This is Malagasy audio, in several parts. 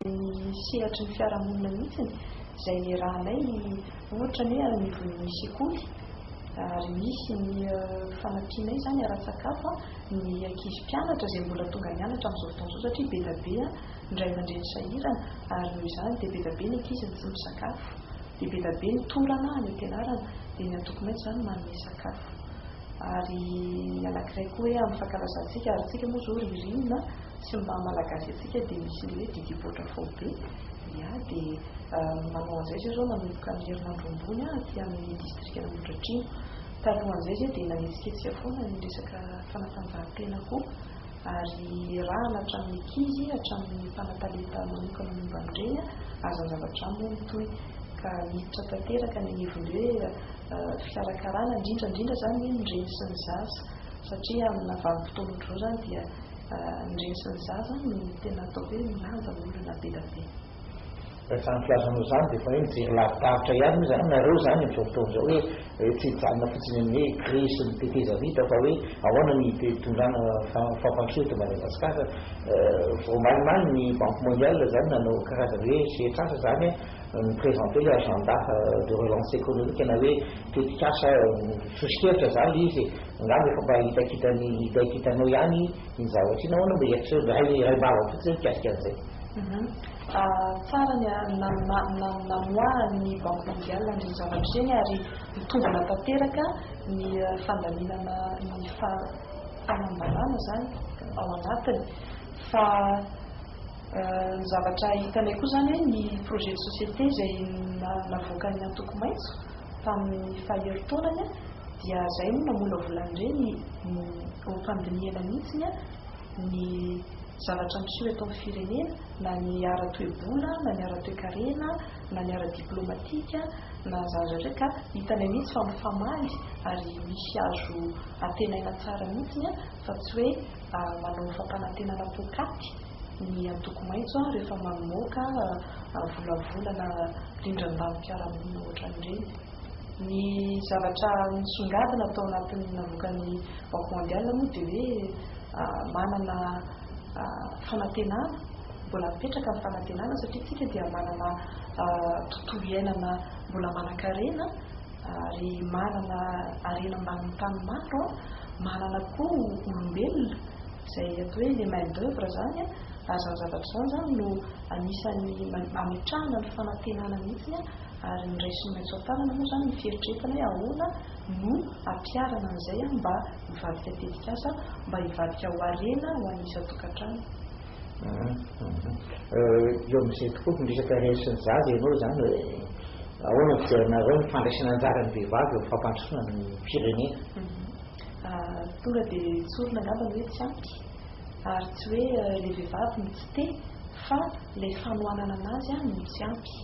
ny sehatry ny fiarahamonina mihitsy izay niarahanay ny ohatra ny hoe any anivon'ny sekoly ary misy ny fanampianay izany ara-tsakafo ny ankizy mpianatra izay mbola tonga nianatra amin'izao fotoana izao satria be dia be ny ray aman-dreny sahirana ary noho izany dia be dia be ny ankizy no tsy misakafo dia be dia be ny torana any am-pianarana dia ny antoko maitso izany manome sakafo ary ny anankiray koa hoe amin'ny fankalazantsika ary isika moa izao ririnina Tsy ny maha malagasy antsika dia misy ny hoe Didy Boatra Faobe. Ia dia manao an'izay izay izao manomboka ny herinandro ambony aty amin'ny distrikan'Ambohidratrimo. Talohan'izay izay dia nanetsiketsika foana ny resaka fanatanjahantena koa ary iarahana hatramin'ny ankizy hatramin'ny mpanatalenta manokana momba an'ireny aza zavatra moa mitohy ka miditra tanteraka ny anivon'ny hoe fikarakarana indrindra indrindra izany ny reny sy ny zaza satria amina vanim-potoana ohatr'izao izany dia Ny reny sy ny zaza no tena atao hoe milaza olona be da be. Raha izany filazanao izany dia efa hoe mijery lavidavitra ihany moa izany nareo izany amin'izao fotoana izao hoe hoe tsy hijanona fotsiny amin'ny hoe grille sy ny teteza vita fa hoe ahoana ny hitondrana fampandrosoana eto Madagasikara. Voamalimaly ny Banque Mondiale izany nanao karazana hoe sehatr'asa izany ni-presenter le agenda de relance économique na hoe tetik'asa sosokevitra izany le izy e. Angamba efa mba hitakitan'i Niday kitanao ihany iny zavatra iny, ahoana no mba eritrereo? Mba iray iray ambava fotsiny izay mikasika an'izay. Tsara ny namoahan'ny Banque Mondiale an'ireny zavatra ireny ary mitombina tanteraka ny fandaminana ny fahalambanana izany ao anatiny fa ny zavatra hitanay koa izany hoe ny projet de société izay navoakan'ny antoko maitso Tamin'ny faherintaonany dia izay no namolavolany ireny ho mpandinihana mihitsy ny zavatra miseho eto amin'ny firenena na ny ara-toe-bola na ny ara-toe-karena na ny ara-diplomatika na izany rehetra ka hitanay mihitsy fa mifamaly ary misy azo antenaina tsara mihitsy fa tsy hoe manao fampanantenana poakaty ny antoko maitso rehefa mamoaka volavolana rindran-danim-piarahamonina ohatran'ireny. Ny zavatra nisongadina tao anatin'ny navoakan'ny Banque Mondiale moa dia hoe manana fanantenana, mbola mipetraka ny fanantenana satria isika dia manana tontolo iainana mbola manankarena ary manana harena ambanin'ny tany maro, manana koa olombelona Izay atao hoe le main d'oeuvre izany an, ary izany zavatra izany izany no anisan'ny ametrahana ny fanantenana mihitsy ary ny raisiny maitso an-tanana moa izany ny fieritreretana hoe ahoana no ampiharana an'izay mba hivadika tetikasa mba hivadika ho harena ho an'ny isan-tokantrano. Eo amin'izay tokoa ny resaka harena sy ny zaza ianao izany hoe ahoana ny fijerinareo ny fandraisana anjaran'ny vehivavy eo amin'ny fampandrosoana ny firenena? Tonga dia tsorina angamba ny hoe tsy ampy, ary tsy hoe ilay vehivavy no tsy te fa ilay fanohanana anazy no tsy ampy.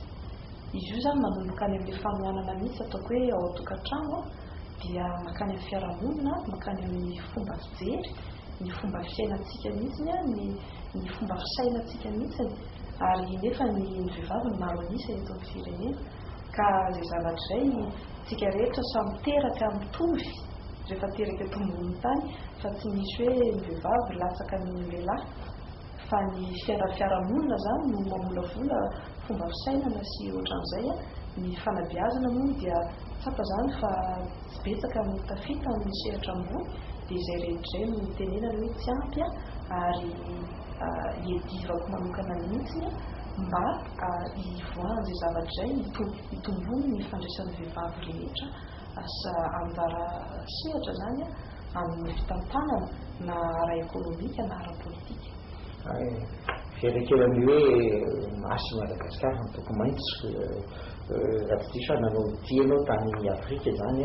Izy io izany manomboka any amin'ilay fanohanana mihitsy ataoko hoe ao an-tokantrano dia mankany amin'ny fiarahamonina, mankany amin'ny fomba fijery, ny fomba fiainantsika mihitsy, ny fomba fisainantsika mihitsy, ary nefa ny vehivavy no maro an'isa eto amin'ny firenena. Ka izay zavatra izay tsika rehetra samy teraka mitovy rehefa teraka eto amboniny tany fa tsy misy hoe ny vehivavy latsaka noho ny lehilahy fa ny fiainan'ny fiarahamonina zany no mamolavola fomba fisainana sy otran'izay a, ny fanabeazana moa dia tsapa zany fa tsy betsaka no tafita amin'ny sehatra ambony dia izay rehetra izay no tenenana hoe tsy ampy a ary iadivako manokana mihitsy mba Hivoahan' izay zavatra izay ny Tompo, hitomboan' ny fandraisan' ny vehivavy rehetra asa ambara sehatra izany amin' ny fitantanana na ara-ekonomika na ara-pôlitika. Fiherekeran' ny hoe Masy Madagascar antoko maitso, Ratitifana no tianao tany Afrika izany.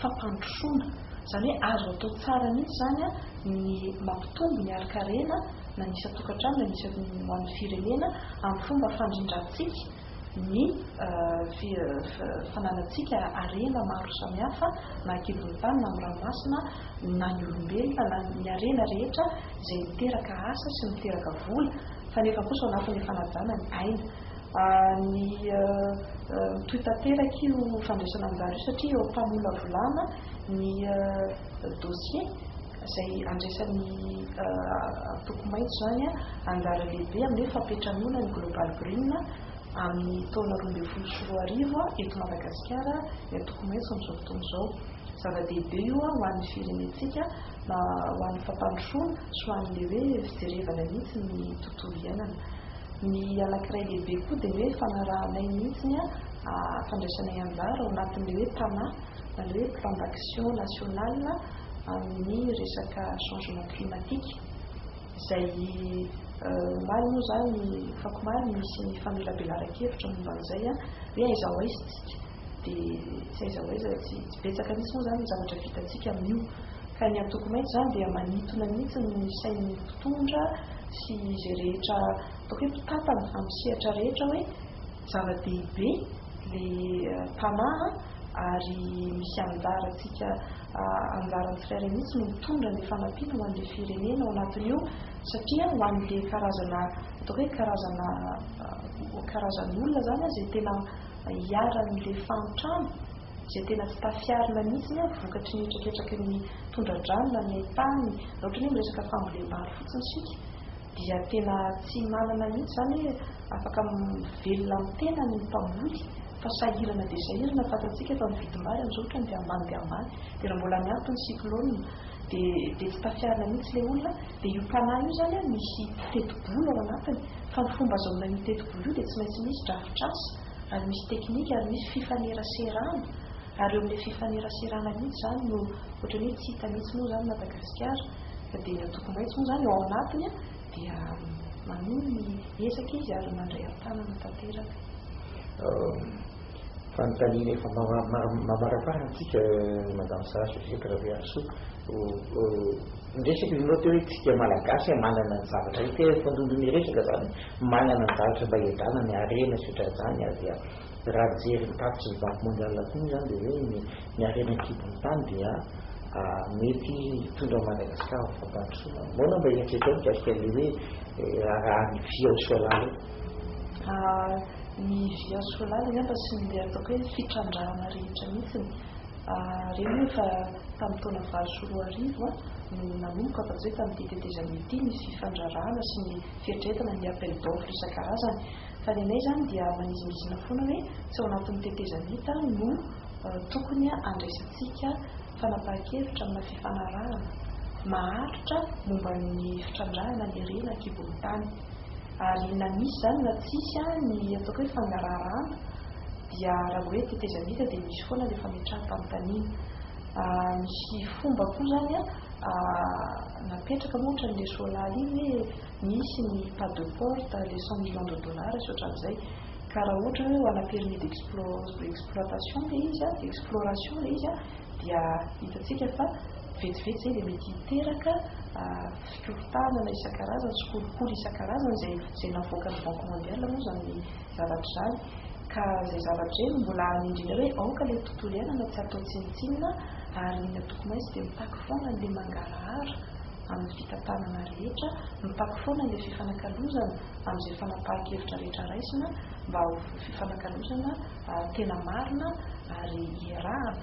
fampandrosoana, izany hoe azo atao tsara mihitsy izany ny mampitombo ny harinkarena na ny isan-tokantrano na ny isan'ny ho an'ny firenena amin'ny fomba fandrindrantsika ny fananantsika harena maro samihafa na an-kibon'ny tany na amin'ny ranomasina na ny olombelona na ny harena rehetra izay miteraka asa sy miteraka vola fa nefa kosa ao anatin'ilay fanajana ny aina ny mitohy tanteraka io fandraisana anjara io satria eo am-pamolavolana ny dossier izay andraisan'ny antoko maitso izany anjara lehibe amin'ny fampiantranoana ny Global Green amin'ny taona roa ambin'ny folo sy roa arivo eto Madagasikara ny antoko maitso amin'izao fotoana izao. Zava-dehibe io ho an'ny firenentsika na ho an'ny fampandrosoana sy ho an'ilay hoe fijerevana mihitsy ny tontolo iainana. Ny anankiray lehibe koa dia hoe fanarahanay mihitsy ny fandraisanay anjara ao anatin'ilay hoe PANA na ilay hoe Plan d'Action National amin'ny resaka Changement Climatique izay omaly moa izany, afakomaly, nisy ny famelabelaran-kevitra momba an'izay hoe aiza ho aiza isika. dia tsy aiza ho aiza, tsy betsaka mihitsy moa izany ny zavatra vitantsika amin'io. Ka ny antoko maitso izany dia manintona mihitsy ny sain'ny mpitondra sy izay rehetra ataoko hoe mpitantana amin'ny sehatra rehetra hoe zava-dehibe ilay mpanaha ary misy anjarantsika, anjaran'ny tsirairay mihitsy no mitondra ny fanampiana ho an'ilay firenena ao anatin'io satria ho an'ilay karazana ataoko hoe karazana karazan'olona izany izay tena iharan'ny le fahantrana izay tena tsy tafiarina mihitsy ny vokatry ny traketraky ny tondra-drano na ny hain-tany raha ohatra ny hoe miresaka fambolem-bary fotsiny isika dia tena tsy manana mihitsy izany hoe afaka mivelona amin'ny tenany ny mpamoly fa sahirana dia sahirana fantatsika efa ny vidim-bary amin'izao ohatra ny dia ambany dia ambany dia raha mbola miampy ny cyclone dia dia tsy tafiarina mihitsy ilay olona Dia io mpanahy io izany an, misy tetibola ao anatiny, fa ny fomba azahoana io tetibola io dia tsy maintsy misy drafitr'asa, ary misy teknika, ary misy fifaneraserana, ary eo amin'ilay fifaneraserana mihitsy izany no ohatran'ny hoe tsy hita mihitsy moa izany Madagasikara, fa dia ny antoko maitso moa izany ao anatiny an, dia manohy ny ezaka izy ary mandray an-tanana tanteraka. Fanontaniana efa mamaraparantsika Madame Sara Josette Rabearisoa, Niresaka izy nô teo hoe tsika malagasy a manana ny zavatra io tena efa ndondo niresaka zany manana ny zavatra mba hiadrana ny harena sy otranzany ary dia raha nijery ny tatitry ny banky mondiale koa moa zany dia hoe ny ny harena ankibon'ny tany dia a mety hitondra an'i Madagascar ho fampandrosoana ahoana mba eritreretao mikasika an'le hoe raharahan'ny vy ao Soalala io? A, ny vy ao Soalala angamba sy ny le ataoko hoe fitrandrahana rehetra mihitsiny a reny efa. Tamin'ny taona valo sy roa arivo no nanomboka fa tsy hoe tamin'ity tetezana ity nisy fifandrarahana sy ny fieritreretana ny appel d'offre isan-karazany. Fa ny anay izany dia manizingizina foana hoe tsy ao anatin'ny tetezana ita no tokony handraisantsika fanapahan-kevitra amina fifanarahana maharitra momba ny fitrandrahana ny harena an-kibon'ny tany. Ary na misy izany na tsisy, ny ataoko hoe fangaraharahana dia raha hoe tetezamita dia misy foana ilay fametraham-panontaniana. Misy fomba koa izany napetraka moa ohatran'ny le Solala iny hoe misy ny pas de porte, le cent millions de dollars sy ohatran'izay. Ka raha ohatra hoe ho ana permis d'exploitation ilay izy, exploration ilay izy dia hitantsika fa vetivety izay dia mety hiteraka Firofitanana isan-karazany sy kolikoly isan-karazany izay izay navoakan'ny Banque Mondiale moa izany ny zavatra izany ka izay zavatra izay no mbola hanindriana hoe aoka ilay tontolo iainana tsy hatao tsinontsinona ary ny antoko maitso dia mitaky foana an'ilay mangarahara amin'ny fitantanana rehetra, mitaky foana ilay fifanakalozana amin'izay fanapahan-kevitra rehetra raisina mba ho fifanakalozana tena marina ary iarahana.